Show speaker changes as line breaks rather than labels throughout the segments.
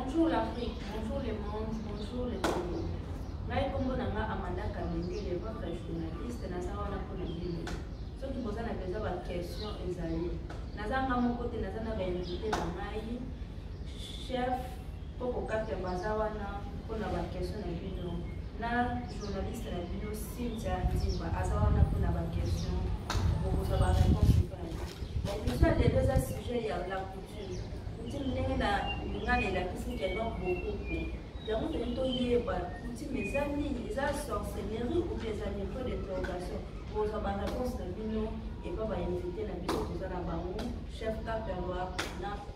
Bonjour l'Afrique, bonjour le monde, bonjour le Congo. Ngai kombo na nga Amanda Kamendele, votre journaliste, naza wana mpo na bino. Soki boza na besoin ba question ezali. Naza nga moko te, naza na ba invité na ngai. Chef Koko Kapia baza wana mpo na ba question na bino. Na journaliste na bino Cynthia Nzimba aza wana mpo na ba question. Bokozwa ba réponse Emission lelo eza sujet ya la coutume. Coutume ndenge na lingala elakisi ke non bokoko. Yango toni toyeba coutume eza nini? Eza sorcellerie ou bien eza niveau d'interrogation? Bozwa ba réponse na bino epa ba invité na biso toza na bango chef Kaperwa na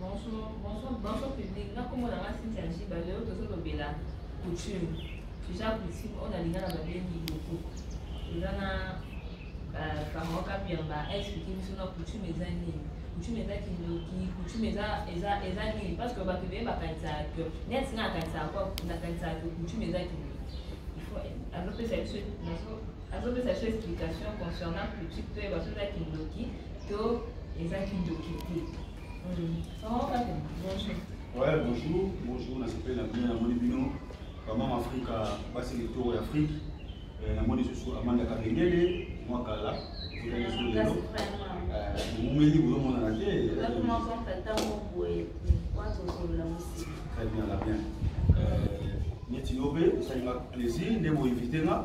Bonjour, bonjour, bonjour public. Na kombo na nga Cynthia Njiba, lelo tozolobela coutume. Eza coutume oyo nalingaka babengi loko. Eza na bango kapi ya ba explique biso na coutume eza nini. Coutume eza kindoki, coutume eza eza eza nini parce que bato beye bakanisaka que neti nga nakanisaka kwa nakanisaka que coutume eza kindoki. Il faut alopesa biso nazo azopesa biso explication concernant critique toyeba soki eza kindoki to eza kindoki te bonjour
Ouais, bonjour, bonjour, na sepeli na bino namoni bino bamama afrika basi litoro ya afrike eh, namoni lisusu amanda kabengele mwa kala ekotaliso lelo momeli bozomonana te très bien la bien neti yo mpe esalinga plaisir nde boinvite nga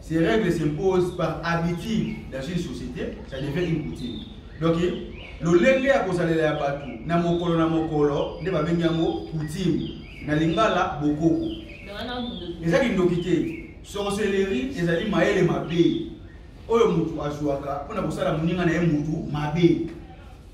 Ces règles s'imposent par habitude dans une société, ça devient une coutume. Donc, lolenge ya kozalela ya bato na mokolo na mokolo nde babengi yango coutume na lingala bokoko eza kindoki te sorcellerie ezali mayele mabe oyo moto azwaka mpo na kosala moninga na ye motu mabe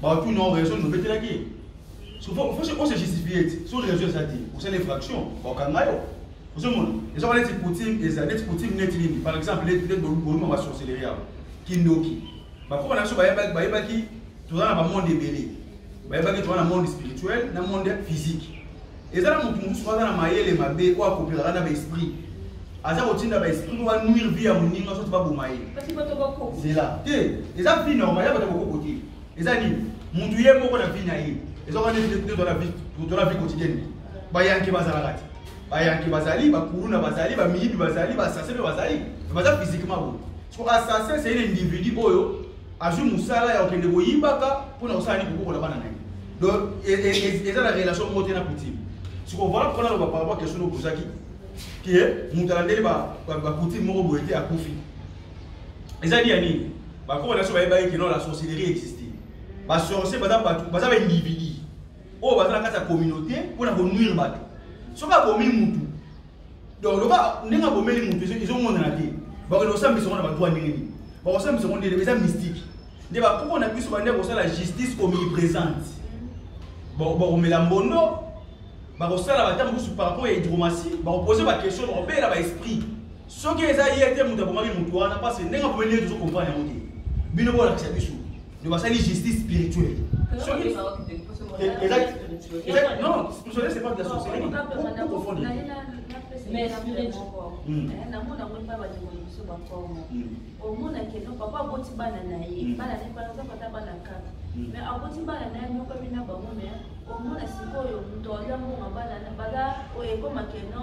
Bato na raison nous betelaki. Souvent faut on se justifier. Sur les réseaux ça dit, vous savez fraction, au Kangayo. Vous savez mon, les gens les poutine, les adeptes poutine net ligne. Par exemple, les les bonbons va sorcellerie. Kindoki. Ba ko na so ba yeba ba yeba ki tu dans le monde belé. Ba yeba ki tu dans le monde spirituel, dans le monde physique. eza na motu mosusu aza na mayele mabe oyo akopelaka na baesprit aza kotinda baesprit oyo banuire vie ya moninga soki baboma ye zela te eza vie normal ya bato bakoko te eza nini motu ye moko na vie na ye eza wana tola vie quotidienne bayanke bazalaka te bayanke bazali bakuluna bazali bamiyibi bazali basase mpe bazali baza physiquement boye Siko assassin c'est un individu oyo azwi mosala ya kokende koyibaka mpo na kosala nini kokokola bana na ye. Donc e, e, e, eza na relation moko te na coutume. Siko voilà pourquoi naloba par rapport question obozaki ke moto alandeli bacoutume moko boye te akufi. Eza liya nini? Bakoko na biso bayebaki ke non la sorcellerie existe. Basorcier baza bato baza baindividu oyo baza na kati ya communauté mpo na konuire bato. Soki abomi motu donc loba ndenge abomeli moto ezomonana te bakende kosambisa ngo na badroit ndenge nini bakosambisa ngo ndele eza mystique nde bakoko na biso bande kosala justice omniprésente bakomela mbondo bakosala bata mosusu par rapport ya hydromatie bakopose baquestion bakobela baesprit soki eza ye te moto abomami moto wana parce ndenge abomeli ye tozo comprendre yango te bino bolakisa biso ndio basali justice spirituelle non spirituelle c'est pas de la sorcellerie vous confondez
mais spirituel namona yango epai bandeko na biso bakongo omonaki no papa aboti bana na ye bana na ye par exemple ata bana kaka mais aboti bana na ye mokami na bango mais omona sikoyo moto alya mbongo bana baza oyo ekomaki no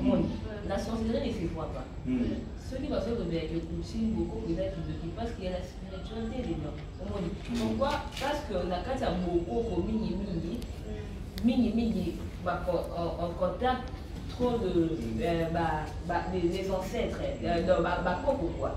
omoni la sorcellerie ne se voit pas soki bazoki kozela ke coaching boko eza kidoki parce que ya la spiritualité dedans omoni pourquoi parce que na kati ya bokoko mingi mingi mingi mingi en contact trop de euh, bah, bah, les, les ancêtres euh, bah, bah, quoi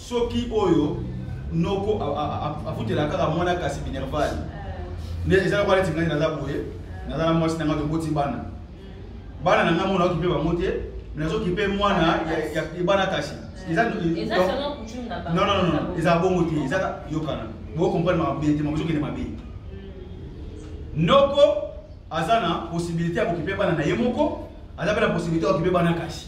soki oyo noko afutela kaka mwana kasi minerval eh. nde eza lokola neti ngai naza boye eh. naza na mwasi na ngai toboti bana bana na ngai mona okipe bango te nazokipe mwana ya bana kasi
eza bongo te
eza yokana bokomprendre mabe te makozokende mabe hmm. noko aza na possibilité ya kokipe bana na ye moko aza mpe na possibilité ya kokipe bana kasi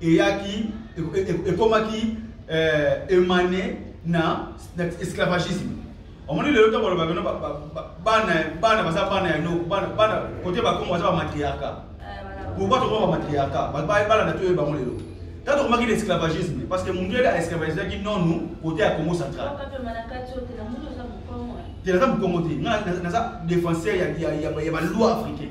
eyaki ekomaki eh, emane na esclavagisme omoni lelo ntango baloba bino bana baza bana ya noko bana kote bakongo baza bamatriarka eh, pourkoi tokoma bamatriarka bana na toyeba bango lelo ntango tokomaki na esclavagisme parce que mundele aesclavagisaki nonu kote ya congo central te naza mokongo te nga naza défenseur ya baloi africain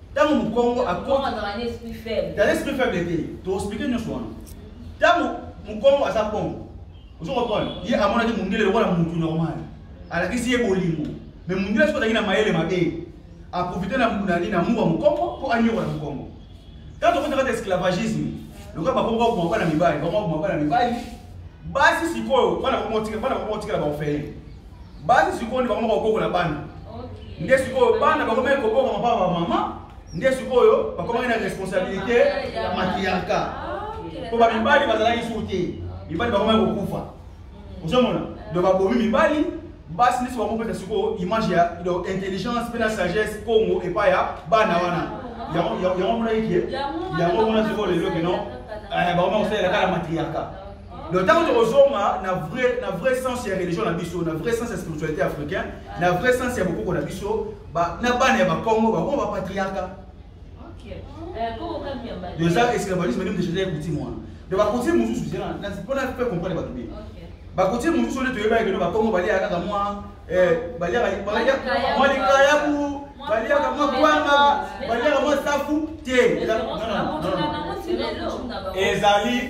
ntango mokongo
dans l'esprit faible te
toexplike nyonso wana ntango mokongo aza bongo ozo comprendre ye amonaki mondele lokola mutu normal alakisi ye bolingo mais mondele soki azalaki na mayele mabe aprofite na munani na muwa mokongo mpo anyokola mokongo ntango tokota kati esclavagisme lokola bakongo bakoma bana mibali bakoma bakoma bana mibali basi sikoyo bana bakomotikela baofele basi sikoyo nde bakomaka kobokola bana nde sikoyo bana bakomaki kobokama mpa bamama nde sikoyo bakomaki na responsabilité ya matriarka mpo bamibali bazalaki suku te mibali bakomaki kokufa mm. ozomona do babomi mibali basi nde sikoyo bakopesa sikoyo image ya intelligence mpe na sagesse congo epai ya bana wana yango monaki ke yango mona sikoyo lelo keno eh, bakomaki kosalela kaka matriarka Donc, ntango tokozonga na vrai, na vrai sens ya religion na biso na vrai sens ya spiritualité africain na vrai sens ya bokoko na biso na bana ya bakongo bakongo bapatriarka
eza esclavalisme nde mdejeta
ya kutime wana donc bakotime mosusu zela mpona mpe comprendre bato bie bakotime mosusu nde toyebaki keno bakongo baliaka kaka mwa baliaka mwa likayabu baliaka mwa kwanga baliaka mwa safu te ezali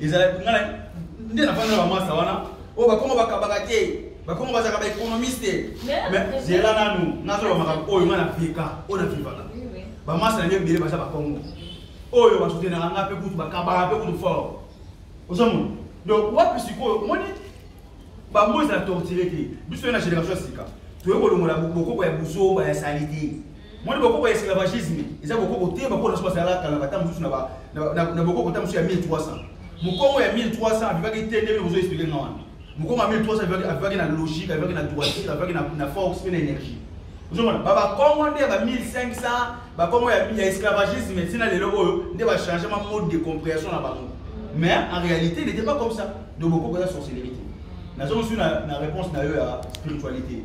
ezalaki ngai nde nafanda na bamasa wana oyo oh, bakongo bakabaka te bakongo bazalaka baekonomiste mais zela nanu nazoloba makambo oyo ngai na veka oyo na vivaka bamasa na ngai ebele baza bakongo oyo basutenaka ngai mpe kutu bakabaka mpe kutu fort ozomona donc wapi sikoyo omoni bango ezala tortire te biso ye na génération ya sika toyei kolongola bokoko ya buzoba ya sali te moni bokoko ya esclavagisme eza bokoko te bakoko na biso bazalaka kala bata mosusu na bokoko ta mosusu ya 1300 mokongo ya 1300 avivaki te ndenge bozo explike nga wana mokongo ya 1300 avivaki na logique avivaki na droiture avivaki na force mpe na énergie ozomona babakongo nde ya ba 1500 bakongo ya esclavagisme ntina lelo oyo nde bachangema mode de compréhension na bango mais en réalité il n'était pas comme ça donc bokoko eza sorcellerie te nazongi soki na réponse na yo ya spiritualité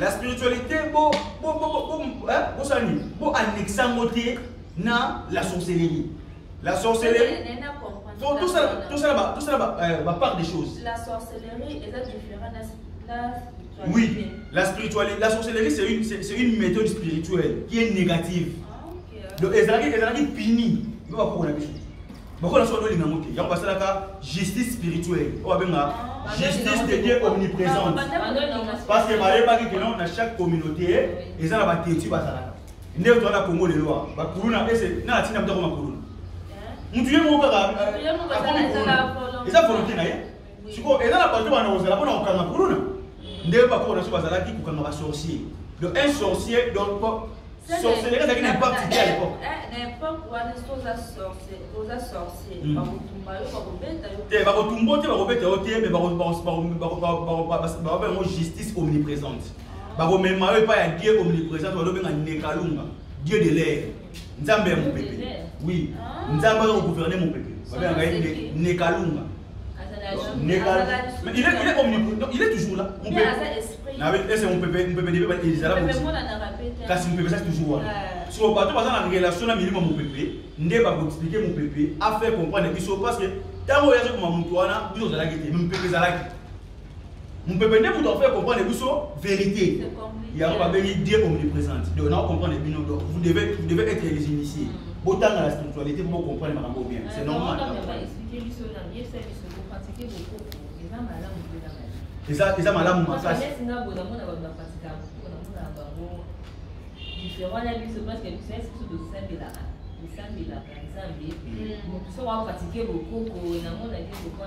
La spiritualité bo bo bo bo bo sala nini bo annexe yango te na la sorcellerie la sorcellerie tosala euh, bapart des choses la sorcellerie
eza différent na oui la
spiritualité la sorcellerie c'est une, c'est une méthode spirituelle qui est négative ah, donc ezalaki ezalaki pini yo bakokola biso bokola soki olinga yango te yango basalaka justice spirituelle oyo babenga ah, justice de dieu omniprésente parce que bayebaki ke non na chaque communauté eza na bateti bazalaka nde otoa na congo lelo a bakuluna ese na atina motako makuluna eh? motu ye moko kaka euh, eza volonté na ye sikoyo eza na bato bana kozala mpona kokanga kuluna nde bakoko na biso bazalaki kokanga basorcier donc un sorcier donc sorcellerie ezalaki na impact
te à l'époque eh, eh, na impact wana soki oza
sorcier oza sorcier hmm. bakotumba yo bakobeta yo te bakotumba te bakobeta yo te mais bakoba yango justice omniprésente ah. bakomema yo epai ya dieu omniprésente balobenga nekalunga dieu de l'air nzambe ya mopepe oui ah. nzambe aza kogouverne mopepe babengaka ye nekalunga Il est, il est omnipotent. Non, il est toujours là. On peut. Na be ese on peut on peut dire ba ils ala bosi. Kasi on peut ça toujours là. Sur bateau baza na relation na milimo mon pepe, nde ba ko expliquer mon pepe, a faire comprendre biso parce que tango ya ko mamutu wana, biso zalaki te, mon pepe zalaki. Mupepe nde moto afai comprendre biso vérité. Yango babengi Dieu omniprésente. Donc na comprendre bino donc vous devez vous devez être les initiés. Mm. Botanga la spiritualité pour comprendre makambo bien. C'est normal. Eza eza malamu makasi. Différent na biso parce que biso esi biso tosambelaka tosambelaka nzambe
moto soki akopratike bokoko namona te kokwa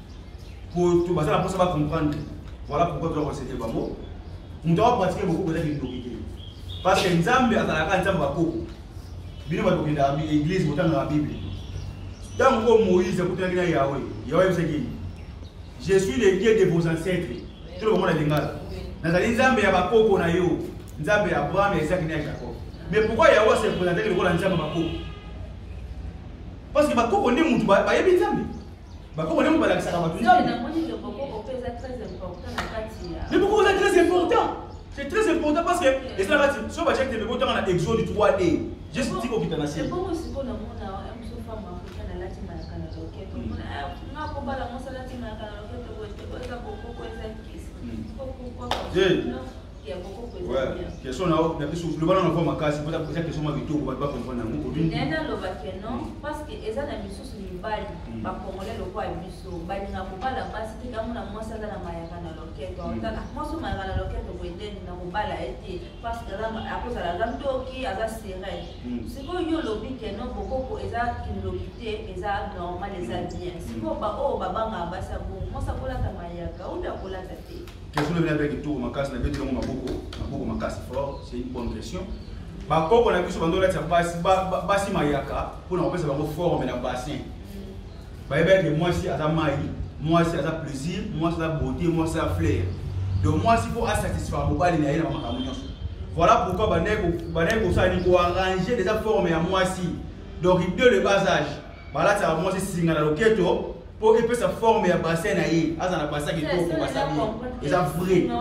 poto baza na mposa ba comprendre voilà pourquoi toza konsete bango moto akopratique bokoko eza kindoki te parce que nzambe azalaka nzambe bakoko bino bato kendaka église botangaka bible ntango oyo moïse akutanaki na yawe yawe ayebisaki je suis le dieu de vos ancêtres tolo bango na lingala nazali nzambe ya bakoko na yo nzambe ya abraham ya isaki na ya jacob mais pourquoi yawe se présentaki lokola nzambe bakoko parce que bakoko nde motu bayebi nzambe bakoko nde balakisaka bato nzambe bokoko eza très important c'est très important parce que eza kati so batiaki tembe kotanga na exode 3 e juste ti kokita na se
Yeah. question na na
biso loba na nova makasi mpo eza question ma
bitoko
bato bakomprendre yango nene aloba ke non parce
que
eza na
misusu
mibali
hmm. bakongole lokola biso balinga kobala basi te yango na mwasi aza na mayaka na loketo hmm. otala mwasi mayaka na loketo boyedeni na kobala ye te parce que akozala aza ndoki aza sere hmm. sikoyo yo olobi ke non bokoko eza kindoki te eza normal eza bien sikoyo baoyo babangaka basi yango mwasi akolata mayaka oyo akolata te Question oyo nabia kitoko
makasi na beti yango maboko maboko makasi fort c'est une bonne question bakoko na biso bando olatisa basi basi mayaka mpo na kopesa bango forme na bassin bayebaki ete mwasi aza mai mwasi aza plaisir mwasi aza beauté mwasi aza flair donc mwasi mpo asatisfaire mobali na ye na makambo nyonso voilà pourquoi bandaki kosala ni koarrange deja forme ya mwasi donc de le bas âge balatisaka mwasi singa na loketo po epesa forme ya bassin na ye aza na bassin kitoko basali eza vrai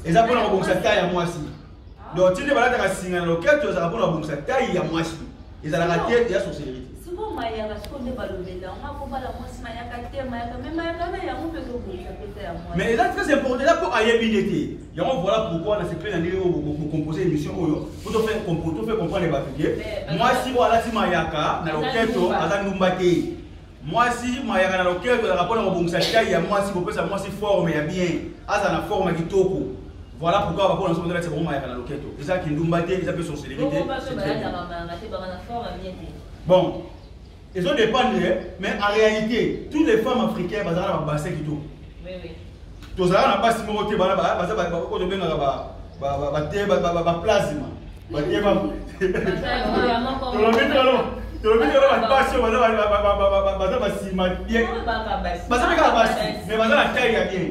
eza mpona kobongisa tai ya mwasi ah. donc tinde balataka singa na loketo ezalaka mpona kobongisa tai ya mwasi ezalaka te ya sorcellerie sikoyo mayaka sikoyo
nde balobela yango akobala mwasi mayaka te mayaka me mayaka na yango mpe ezobongisa mpe tai ya mwasi mais eza très important eza mpo
ayebi nde te yango voilà pourquoi na sepeli na ndenge oyo bokompose émission oyo po tofe comprendre bato ke mwasi oyo alati mayaka na loketo aza ndumba te mwasi mayaka na loketo ezalaka mpona kobongisa tai ya mwasi kopesa mwasi forme ya bien azala na forme ya kitoko voilà pourquoi bakona soki ondalati bango mayaka na loketo eza kindumba te eza mpe sorcellerie te bon ezo dépendre eh, mais en réalité tous les femmes africaines bazala na babase kitoko
tozala na
basi moko te bana baza oyo tobengaka baplasma basi oyo baza basima bien baza kaka basi mais baza na taille ya bien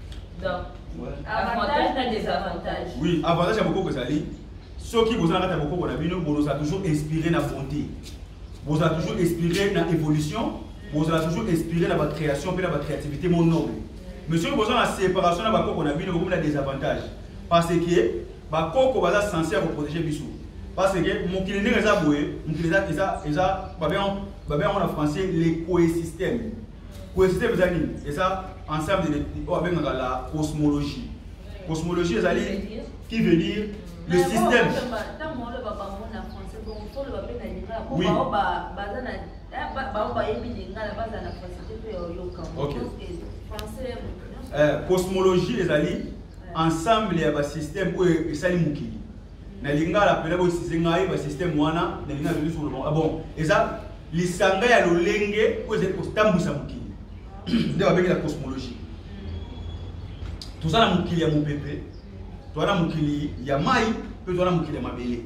Donc, avantage na désavantage. Oui, avantage ya bokoko
ezali soki boza na kati ya bokoko na bino bozala toujours inspiré na bonté bozala toujours inspiré na évolution bozala toujours inspiré na bacréation mpe na bacréativité mo noble mais soki boza na séparation na bakoko na bino bokomi na désavantage parce que bakoko baza sense ya koprotege biso parce que mokili ndenge eza boye mokili eza babe yango na français le coesystème Coesistem eza nini? Eza ensemble de oyo abengaka la cosmologie. Cosmologie ezali qui veut dire le système. Oui. Okay. Eh, cosmologie ezali ensemble ya basystème oyo esali mokili na lingala mpena boyisize ngai basystème wana na lingala ezali solo ah bon eza lisanga ya lolenge oyo ezali kotambwisa mokili nde babengi na cosmologie toza na mokili ya mopepe toza na mokili ya mai mpe toza na mokili ya mabele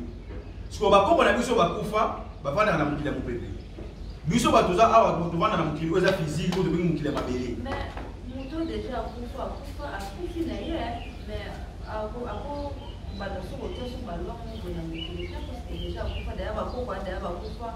sikoyo bakoko na biso bakufa bafandaka na mokili ya mopepe biso bato toza awa tovanda na mokili oyo eza fiziki oyo tobengi mokili ya mabele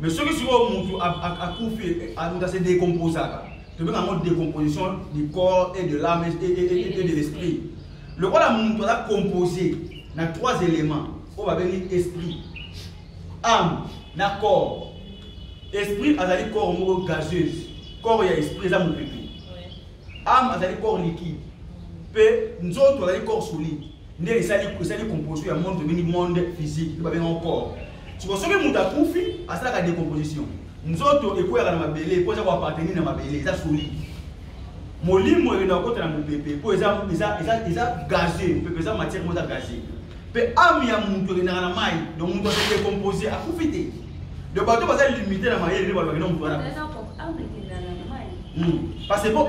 mais soki sikoyo mutu akufi eh, ah, mutu ase décomposaka tobenga yango décomposition du corps et de l'âme et de l'esprit lokola mutu aza composé na trois éléments oyo babengi esprit âme na corps esprit azali corps moko gazeuse corps ya esprit eza mopepe âme azali corps liquide mpe nzoto azali corps solide nde esali esali composition ya monde tobengi monde physique to babengao corps siko soki moto akufi asalaka decomposition nzoto ekweyaka na mabele mpo eza koappartenir na mabele eza solide molimo ekenda kokota na mopepe mpo eza, eza, eza, eza gaze mopepe eza matière moko eza gaze mpe ame ya moto ekendaka na mai donc moto ase decompose akufi te donc bato baza limite na mayele nde balobaki na moto wana hmm. parce que mpo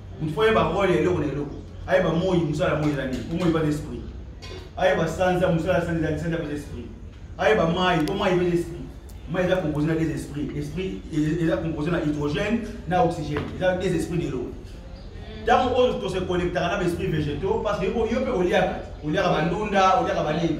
mutu fo ayeba role ya eloko na eloko ayeba moi mosala moi eza nini po moi epana esprit ayeba sanza mosala sanza eza sanza peza esprit ayeba mai po mai epeza esprit mai eza compose na des esprit esprit eza compose na hydrogène na oxygène eza des esprit de l'eau ntango oyo tose connectaka na baesprit végétaux parce que yo mpe oliaka oliaka bandunda oliaka banini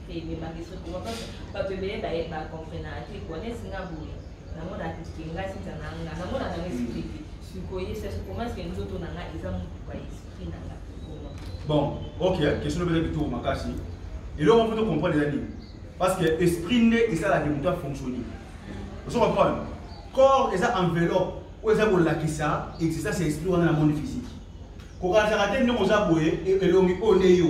emebangiso
kuba bato ebele baye bakomprenaka te kuba nesi nga boye namona atike nga sinza na nga namona na esprit te sikoye se sukomasike nzoto na nga eza motuka esprit na nga bon ok question obele kitoko makasi eloko mpo tocomprendre eza nini parce que esprit nde esalaka moto afonctionne ozo comprendre corps eza enveloppe oyo eza kolakisa existence ya esprit wana na monde physique kokanisaka te ndenge oza boye elongi oyo nde yo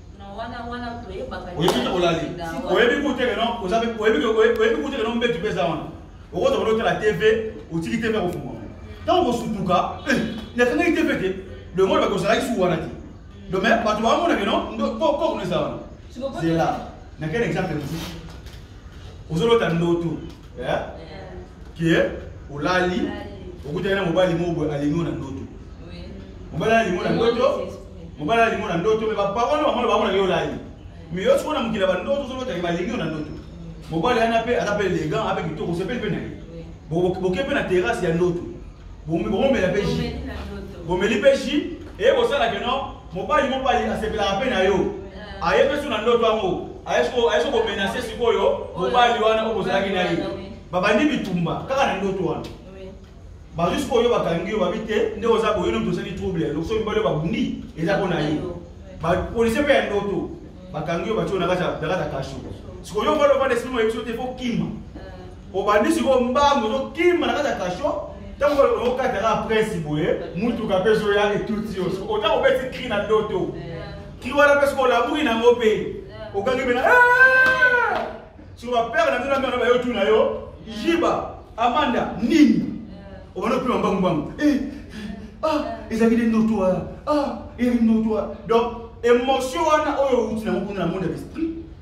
oyebi olali
oyebi kuteke no oyebi kuteke no mbetu mpe eza wana okoza kono otala tv otiki tv akofungwa ntango kosutuka eh, nakangaki tv te longo na bakozalaki suku wana te donc mais bato bamonake no kokono eza wana zela nakende exemple mosusu ozolota ndoto eh? ke olali okutaki na mobali moko boye alingi na ndoto mobali alingi na ndoto mobali alingi na ndoto me baparole bamona bamonaki olali me yo sikoyo na mokili ya bandoto ozolotaki balingi yo na ndoto mobali yana mpe aza mpe elegant ape kitoko osepeli mpe na ye boke mpe na terrasse ya ndoto bomela mpe ji bomeli mpe ji eye bosalaki no mobali moko asepelaka mpe na yo eh. ayebi so na ndoto yango ayesi komenase sikoyo mobali wana oyo bozalaki na ye babandi bitumba kaka na ndoto wana bazwi sikoyo bakangi yo babi te nde oza boye no tosali trouble lokoso mibali oyo babundi eza mpo na ye bapolisie mpe ya ndoto bakangi yo batyo na kati ya kasho sikoyo mobali ovanda esili moyebi so te fo kima obandi sikoyo mbangu ozokima na kati ya kasho ntango okataka prince boye motuka mpe ezoya etuti yo ota kobeti kri na doto kri wana mpe sikoyo olamuki nango mpe okangi mpe na siko bapere na bino na mena bayo tu na yo jiba amanda nini obandi opima mbangu mbangu eh, ah ezalaki nde ndoto wana ah ezalaki ndoto wana donc émotion wana oyo outi nango kuna na monde ya l'esprit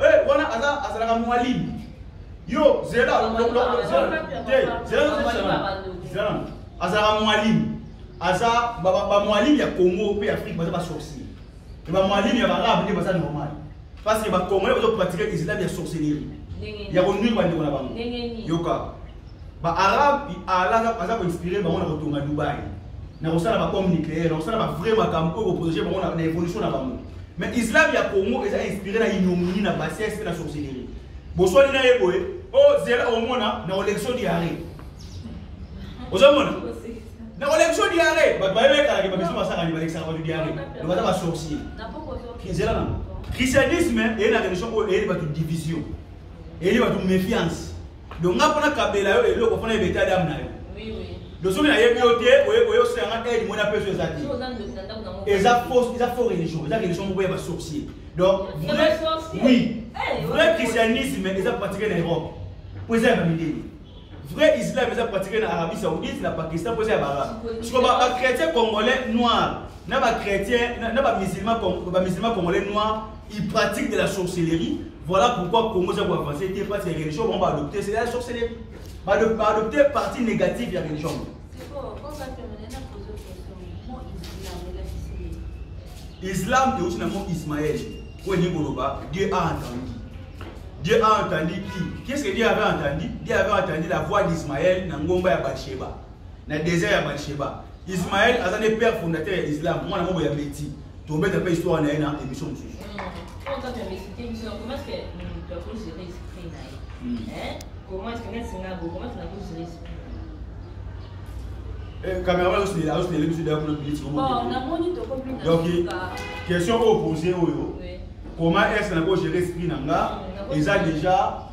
Eh, wana aza azalaka mwalimu. Yo zela zela azalaka mwalimu. Aza ba mwalimu ya Congo pe Afrique baza ba sorcier. Te ba mwalimu ya barabe nde baza normal. Parce que ba Congolais bazo pratiquer islam ya sorcellerie. Ya ko nuire ba ndeko na bango. Yoka. Ba arabe alaka baza ko inspirer bango na kotonga Dubaï. Na kosala ba bombe nucléaire, na kosala ba vrai makambo oyo ko protéger bango na évolution na bango. Mais islam ya Congo eza inspiré na ignominie na bassesse pe na sorcellerie. Boswali na ye boye, oh zela omona na election diarrhée. Ozomona? Na election diarrhée, ba ba ye kala ke ba biso basaka ni ba election ba diarrhée. Ba baza ba sorcier. Na poko zo. Zela na. Christianisme et la religion oyo eyeli bato division eyeli bato méfiance donc nga mpona kabela yo eloko mpona yeba etat dame na yo donc soki nayebi yo te oyosela nga aide mona mpe so eza te eza fausse eza faux religion eza religion moko ya basorcier donc vrai oui eh, vrai christianisme eza pratique na europe mpo eza ya bamideli vrai islam eza pratique na arabie saoudite na pakistan mpo eza ya baarabe siko bachrétien congolais noir na bachrétien na bamusulman congolais noir il pratique de la sorcellerie voilà pourquoi congo eza koavance te parce que religion bango baadopte c'est la sorcellerie baadopte partie négative ya religion islam euti na mot ismael oyo elingi koloba dieu a entendu dieu a entendu qui qu'est ce que dieu avait entendu dieu avait entendu la voix d'ismael na ngomba ya basheba na desert ya Bathsheba Ismaël aza ne père fondateur ya Islam mwana moko ya Mehdi tobeta mpe histoire na ye na émission mosusu cameraman azosinela azosinela biso deya kuna biliti donc question oyo pose oyo comment est ce na ko gérer esprit na nga eza déjà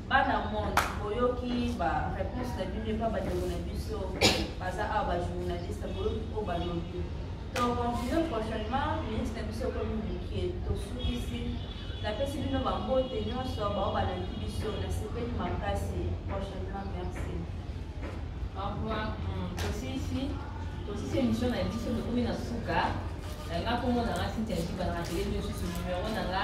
bana monde boyoki ba réponse na bino epa bandeko na biso baza awa bajournaliste boyoki oyo balobi tocontinue prochainement minute na biso ekomi mokie tosukisi napesi bino bambote nyonso bao balandi biso nasepeli makasi prochainement merci au
revoir hmm, tosisi tosisi émission na biso tokomi na suka nga komona nga sintiajiba na atelier niosusu numero na nga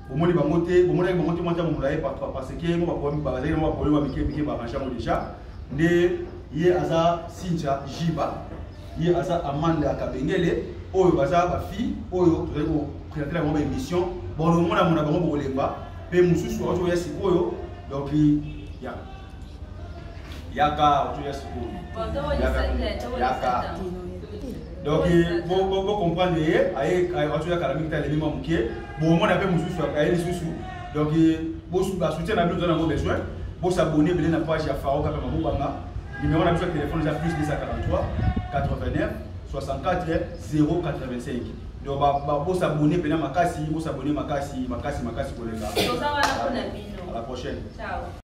bomoni bango te bomonaki bango te mwata molaye parce que yango bakomi bazali yango bakomi ba mike mike barange yango déjà nde ye aza sinja jiba ye aza amande ya kabengele oyo baza bafille oyo tozali kopresente yango baémission bokomonamona bango bokolemba mpe mosusu aotoya sikoyo donc ya yaka otoya sukulu yaka donc bocomprendre ye aotoya kala mingi te alemi mwa moke bomona mpe mosusu aye lisusu donc basoutien na bino oza nango besoin bosabone ebele na page ya faro kaka mabobanga numéro na biso ya telefone eza plus 243 89 64 085 donc bosabone mpena makasi bosabone makasi makasi makasi koleka à la prochaine Ciao.